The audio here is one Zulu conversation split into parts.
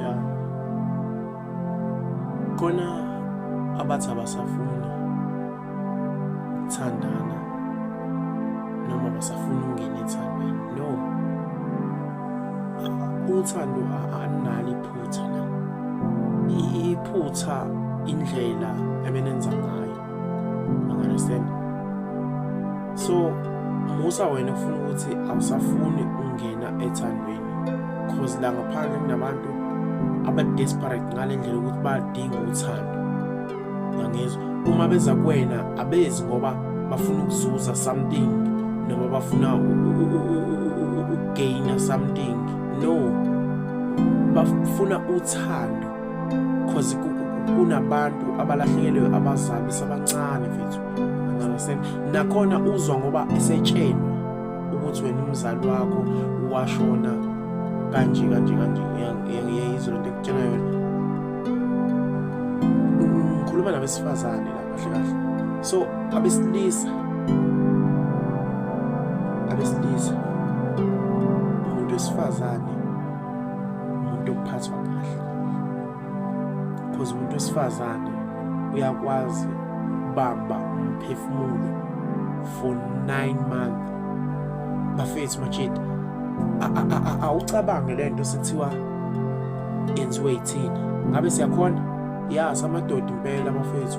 ya khona abathi abasafuni ukuthandana noma basafuna ukungena ethandweni no uthando analo iphutha la iphutha indlela ebenenza ngayo understand so musa wena kufuna ukuthi awusafuni ungena ethandweni cause la ngaphandle kunabantu abadesperate ngale ndlela ukuthi badinga uthando ngangizwa uma beza kuwena abezi ngoba bafuna ukuzuza something noma bafuna ukugaina something no bafuna uthando cause kunabantu abalahlekelwe abazali besabancane mfethu understand nakhona uzwa ngoba esetshenwa ukuthi wena umzali wakho washona kanje kanje kanje ngiyayizwa lento ekutshela yona ngikhuluma nabesifazane la kahle kahle so abesilisa abesilisa umuntu wesifazane umuntu okuphathwa kahle because umuntu wesifazane uyakwazi ukubamba umphefumulo for nine month bafethu machida awucabange le nto sekuthiwa yenziwe yithina ngabe siyakhona ya samadoda impela bafethu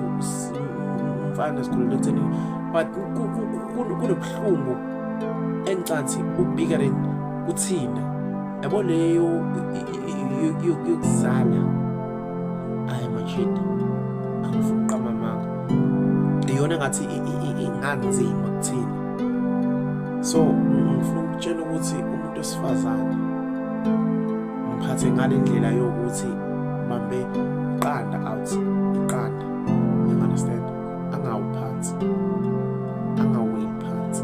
umfana sikhulele ekutheni but kunobuhlungu engicathi ubikering kuthina yabo leyo yokuzala ayi mashida angifuqa mamanga iyona ngathi inganzima kuthina so ngifuna ukutshela ukuthi umuntu osifazane mphathe ngale ndlela yokuthi bambe iqanda out iqanda angawuphansi angaweli phansi